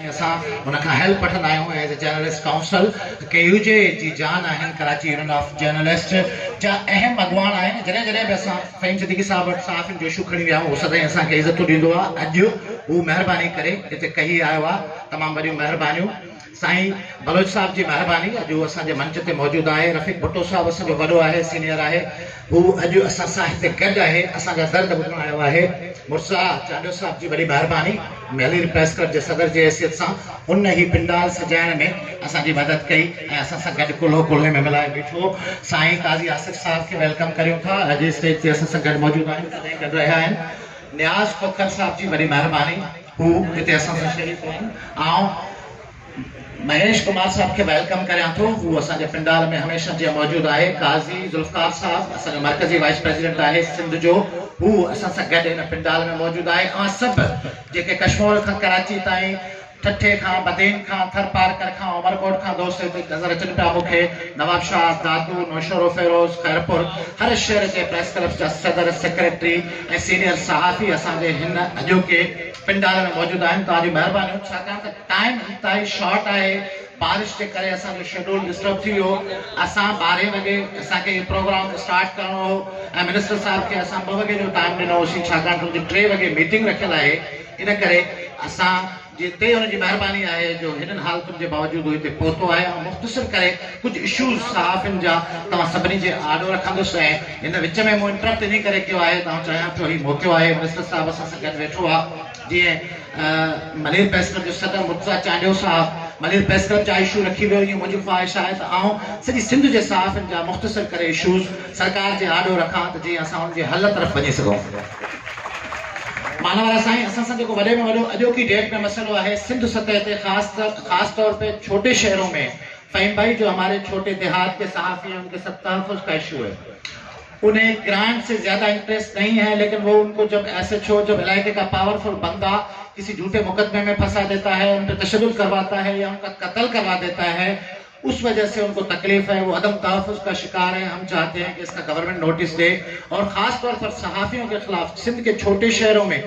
۽ اسان هن کان هيلپ وٺندا آهيون as a journalist council K U J جي جان آهن ڪراچي يونين آف جرنلسٽ جا اهم اڳواڻ آهن جڏهن جڏهن به اسان فهيم صديقي صاحب وٽ صحافين جو اشو کڻي ويا آهيون هو سدائين اسان کي عزتون ڏيندو آهي اڄ هو مهرباني ڪري هتي ڪهي آيو آهي تمام وڏيون مهربانيون سائين بلوچ صاحب جي مهرباني اڄ هو اسان جي منچ تي موجود آهي رفيق ڀٽو صاحب اسان جو وڏو آهي سينئر آهي هو اڄ اسان سان هتي گڏ آهي اسان جا درد ٻڌڻ آيو آهي مرزا چانڊيو صاحب جي وڏي مهرباني. مهلير پريس ڪلب جي صدر جي حيثيت سان هن هي پنڊال سجائڻ ۾ اسان جي مدد ڪئي ۽ اسان سان گڏ ڪلهو ڪلهي ۾ ملائي بيٺو. سائين قاضي آصف صاحب کي ويلڪم ڪريون ٿا اڄ هي اسٽيج تي اسان سان گڏ موجود آهن تڏهن گڏ رهيا آهن. نياز کوکر صاحب جي وڏي مهرباني هو هتي اسان سان شريڪ آهن. آئون مهيش ڪمار صاحب کي ويلڪم ڪريان ٿو هو اسان جي پنڊال ۾ هميشه جيان موجود آهي قاضي ذوالفقار صاحب اسان جو مرڪزي وائيس پريزيڊنٽ آهي سنڌ جو هو اسان سان گڏ هن پنڊال ۾ موجود آهي اوهان سڀ جيڪي ڪشمور کان ڪراچي تائين ٺٽي کان بدين کان ٿرپارڪر کان عمرڪوٽ کان دوست هتي نظر اچن پيا مون کي نوابشاهه دادو نوشهروفيروز خيرپور هر شهر جي پريس ڪلبس جا صدر سيڪريٽري ۽ سينيئر صحافي اسان جي هن اڄوڪي پنڊال ۾ موجود آهن توهان جون مهربانيون ڇاڪاڻ ته ٽائيم انتهائي شارٽ آهي بارش جي ڪري اسان جو شيڊول ڊسٽرب ٿي ويو اسان ٻارهين وڳي اسان کي اهي پروگرام اسٽارٽ ڪرڻو هو ۽ منسٽر صاحب کي اسان ٻه وڳي جو ٽائيم ڏنو هوسين ڇاڪاڻ ته ان جي ٽي وڳي ميٽنگ رکيل آهي ان ڪري اسان جي تي ان جي مهرباني آهي جو هنن حالتن جي باوجود هو هتي پهتو آهي آئون مختصر ڪري ڪجهه اشوز صحافين جا توهان سڀني جي آڏو رکندس ۽ هن وچ ۾ مون انٽرپٽ انهي ڪري ڪيو آهي ته آئون چاهيان ٿو هي موقعو آهي منسٽر صاحب اسان سان گڏ ويٺو آ جيئن ملير پريس ڪلب جو صدر مرتضيٰ چانڊيو صاحب ملير پريس ڪلب جا اشو رکي ويو ايئن منهنجي خواهش آهي ته آئون سڄي سنڌ جي صحافين جا مختصر ڪري اشوز سرڪار جي آڏو رکان ته جيئن اسان ان جي حل طرف وڃي سگهون مان وارا سائين اسان سان جيڪو وڏي ۾ وڏو اڄوڪي ڊيٽ ۾ مسئلو آهي سنڌ سطح تي خاص خاص طور تي ڇوٽي شهرون ۾ فهيم ڀائي جو هماري ڇوٽي دهات ڪي صحافي هين ان کي سب تحفظ ڪا اشو هي انهي گرانٽ سي زياده انٽريسٽ نهي هي ليڪن وو ان ڪو جب ايس ايچ او جب علائقي ڪا پاور فل بندا ڪسي جهوٽي مقدمي مين ڦسا ديتا هي ان پي تشدد ڪرواتا هي يا ان ڪا قتل ڪروا ديتا هي اس وجه سي ان ڪو تڪليف هي وو عدم تحفظ ڪا شڪار هي هم چاهتي هين ڪي اس ڪا گورنمنٽ نوٽس دي اور خاص طور پر صحافيون ڪي خلاف سنڌ ڪي ڇوٽي شهرون مين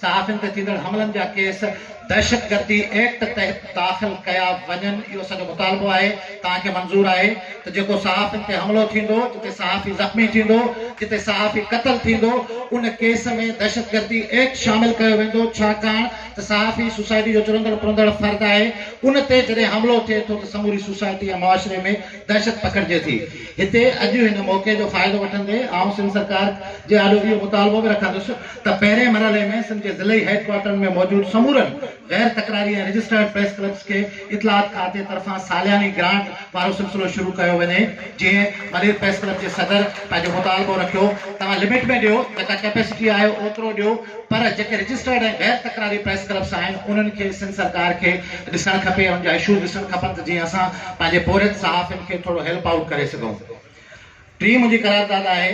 صحافين تي ٿيندڙ حملن جا ڪيس دهشتگردي ايڪٽ تحت داخل ڪيا وڃن اهو اسان جو مطالبو آهي، توهان کي منظور آهي ته جيڪو صحافين تي حملو ٿيندو، جتي صحافي زخمي ٿيندو، جتي صحافي قتل ٿيندو ان ڪيس ۾ دهشتگردي ايڪٽ شامل ڪيو ويندو ڇاڪاڻ ته صحافي سوسائٽي جو چرندڙ پرندڙ فرد آهي ان تي جڏهن حملو ٿئي ٿو ته سموري سوسائٽي ۽ معاشري ۾ دهشت پکڙجي ٿي هتي اڄ هن موقعي جو فائدو وٺندي آئون سنڌ سرڪار جي آڏو اهو مطالبو به رکندس ته پهرين مرحلي ۾ سنڌ جي ضلعي هيڊ ڪوارٽرن ۾ موجود سمورن غير تڪراري ۽ رجسٽرڊ پريس ڪلبس کي اطلاعات کاتي طرفان سالياني گرانٽ وارو سلسلو شروع ڪيو وڃي جيئن ملير پريس ڪلب جي صدر پنهنجو مطالبو رکيو توهان لمٽ ۾ ڏيو جيڪا ڪيپيسٽي آهي اوترو ڏيو پر جيڪي رجسٽرڊ ۽ غير تڪراري پريس ڪلبس آهن انهن کي سنڌ سرڪار کي ڏسڻ کپي انهن جا اشوز ڏسڻ کپن ته جيئن اسان پنهنجي پورهيت صحافين کي ٿورو هيلپ آئوٽ ڪري سگهون ٽي منهنجي قرارداد آهي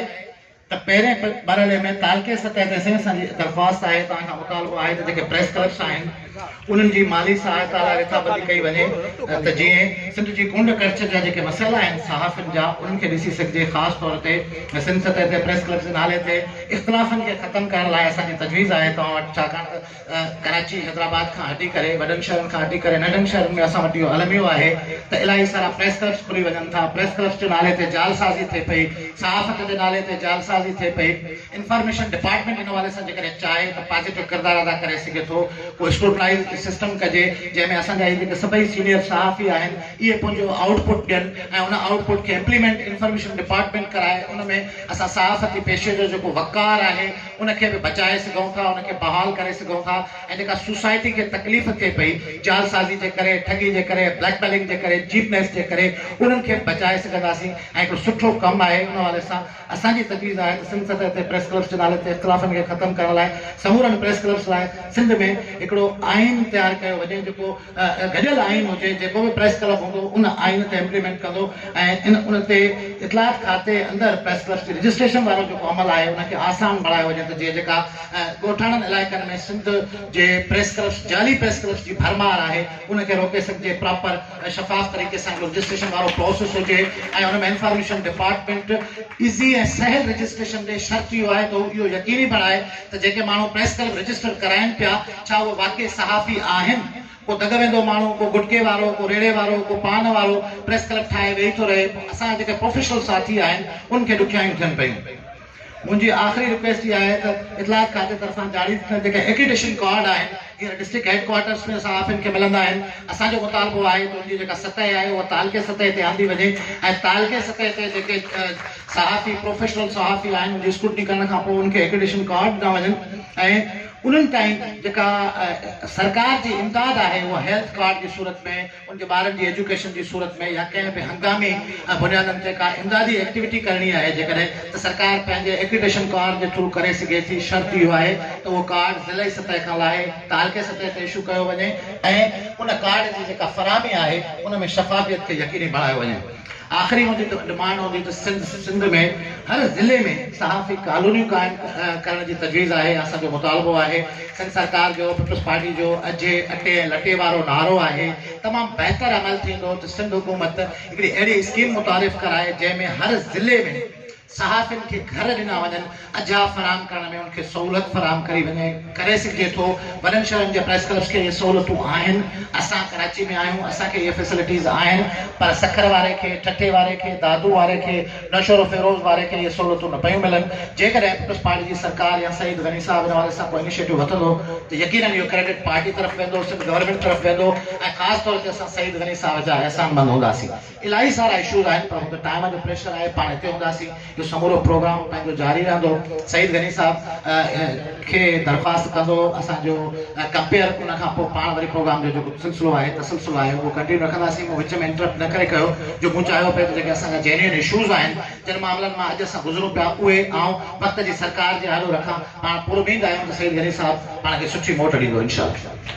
ته پهرين مرحلي ۾ تعلقي سطح تي سين سان جي درخواست آهي توهان کان مطالبو آهي ته جيڪي پريس ڪلبس آهن انهن جي مالي سهائتا لاء رٿابندي ڪئي وڃي ته جئين سنڌ جي ڪونڊ ڪڙڇ جا جيڪي مسئلا آهن صحافين جا انهن کي ڏسي سگهجي خاص طور تي سنڌ سطح تي پريس ڪلبس جي نالي تي اختلافن کي ختم ڪرڻ لاء اسان جي تجويز آهي توهان وٽ ڇاڪاڻ ته ڪراچي حيدرآباد کان هٽي ڪري وڏن شهرن کان هٽي ڪري ننڍن شهرن ۾ اسان وٽ اهو الميو آهي ته الاهي سارا پريس ڪلبس کلي وڃن ٿا پريس ڪلبس جي نالي تي جعل سازي ٿئي پئي صحافت جي نالي تي جعل سازي ٿئي پئي انفارميشن ڊپارٽمينٽ ان حوالي سان جيڪڏهن چاهي ته پازيٽو ڪردار ادا ڪري سگهي ٿو ڪو اسڪروٽنائيز سسٽم ڪجي جنهن ۾ اسان جا هي جيڪي سڀئي سينيئر صحافي آهن اهي پنهنجو آئوٽ پٽ ڏين ۽ ان آئوٽ پٽ کي امپليمينٽ انفارميشن ڊپارٽمينٽ ڪرائي ان ۾ اسان صحافتي پيشي جو جيڪو وقار آهي ان کي به بچائي سگهون ٿا، ان کي بحال ڪري سگهون ٿا ۽ جيڪا سوسائٽي کي تڪليف ٿئي پئي جعلسازي جي ڪري، ٺڳي جي ڪري، بليڪ ميلنگ جي ڪري، چيپنيس جي ڪري، انهن کي به بچائي سگهنداسين ۽ هڪڙو سٺو ڪم آهي ان حوالي سان اسان جي تجويز آهي ته سنڌ سطح تي پريس ڪلبس جي نالي تي اختلافن کي ختم ڪرڻ لاء سمورن پريس ڪلبس لاء سنڌ ۾ هڪڙو آئين تيار ڪيو وڃي جيڪو گڏيل آئين هجي، جيڪو به پريس ڪلب هوندو ان آئين تي امپليمينٽ ڪندو ۽ ان تي اطلاعات کاتي اندر پريس ڪلبس جي رجسٽريشن وارو جيڪو عمل آهي ان کي آسان بڻايو وڃي ته جيئن جيڪا ڳوٺاڻن علائقن ۾ سنڌ جي پريس ڪلبس جعلي پريس ڪلبس جي ڀرمار آهي ان کي روڪي سگهجي پراپر شفاف طريقي سان هڪڙو رجسٽريشن وارو پروسيس هجي ۽ ان ۾ انفارميشن ڊپارٽمينٽ ايزي ۽ سهل رجسٽريشن ڏي شرط اهو آهي ته هو اهو يقيني بڻائي ته جيڪي ماڻهو پريس ڪلب رجسٽر ڪرائين پيا ڇا اهي واقعي صحافي آهن؟ ڪو دڳ ويندو ماڻهو، ڪو گٽڪي وارو، ڪو ريڙهي وارو، ڪو پان وارو پريس ڪلب ٺاهي ويهي ٿو رهي، پوء اسان جا جيڪي پروفيشنل ساٿي آهن ان کي ڏکيائيون ٿين پيون. منهنجي آخري رڪويسٽ اها آهي ته اطلاعات کاتي طرفان جاري ٿيل جيڪي ايڪريڊيشن ڪارڊ آهن هينئر ڊسٽرڪٽ هيڊ ڪوارٽرس ۾ صحافين کي ملندا آهن، اسان جو مطالبو آهي ته ان جي جيڪا سطح آهي اها تعلقي سطح تي آندي وڃي ۽ تعلقي سطح تي جيڪي صحافي پروفيشنل صحافي آهن ان جي اسڪروٽني ڪرڻ کانپوء ان کي ايڪريڊيشن ڪارڊ ڏنا وڃن ۽ انهن تائين جيڪا سرڪار جي امداد آهي اها هيلٿ ڪارڊ جي صورت ۾ ان جي ٻارن جي ايجوڪيشن جي صورت ۾ يا ڪنهن به هنگامي بنيادن تي ڪا امدادي ايڪٽيوٽي ڪرڻي آهي جيڪڏهن ته سرڪار پنهنجي ايڪريڊيشن ڪارڊ جي ٿرو ڪري سگهي ٿي شرط اهو آهي ته اهو ڪارڊ ضلعي سطح کان لاهي تعلقي سطح تي اشو ڪيو وڃي ۽ ان ڪارڊ جي جيڪا فراهمي آهي ان ۾ شفافيت کي يقيني بڻايو وڃي. آخري منهنجي ڊمانڊ هوندي ته سنڌ ۾ هر ضلعي ۾ صحافي ڪالونيون قائم ڪرڻ جي تجويز آهي اسان جو مطالبو آهي سنڌ سرڪار جو پيپلز پارٽي جو اجهي اٽي ۽ لٽي وارو نعرو آهي تمام بهتر عمل ٿيندو ته سنڌ حڪومت هڪڙي اهڙي اسڪيم متعارف ڪرائي جنهن ۾ هر ضلعي ۾ صحافين کي گهر ڏنا وڃن، اجها فراهم ڪرڻ ۾ ان کي سهولت فراهم ڪري وڃي، ڪري سگهجي ٿو، وڏن شهرن جي پريس ڪلبس کي اهي سهولتون آهن، اسان ڪراچي ۾ آهيون، اسان کي اهي فيسلٽيز آهن، پر سکر واري کي، ٺٽي واري کي، دادو واري کي، نوشهروفيروز واري کي اهي سهولتون نه پيون ملن، جيڪڏهن پيپلز پارٽي جي سرڪار يا سعيد غني صاحب ان حوالي سان ڪو انيشيٽو وٺندو ته يقينن اهو ڪريڊٽ پارٽي طرف ويندو، سنڌ گورنمينٽ طرف ويندو ۽ خاص طور تي اسان سعيد غني صاحب جا احسان مند هونداسين. الاهي سارا اشوز آهن پر هوندي ٽائيم جو پريشر آهي پاڻ هتي هونداسين جو سمورو پروگرام پنهنجو جاري رهندو سعيد غني صاحب کي درخواست ڪندو اسان جو ڪمپيئر ان کان پوء پاڻ وري پروگرام جو جيڪو سلسلو آهي تسلسل آهي اهو ڪنٽينيو رکنداسين مون وچ ۾ انٽرپٽ نه ڪري ڪيو جو مون چاهيو پئي ته جيڪي اسان جا جينيون اشوز آهن جن معاملن مان اڄ اسان گذرون پيا اهي آئون وقت جي سرڪار جي آڏو رکان پاڻ پوربيند آهيون ته سعيد غني صاحب پاڻ کي سٺي موٽ ڏيندو انشاء الله.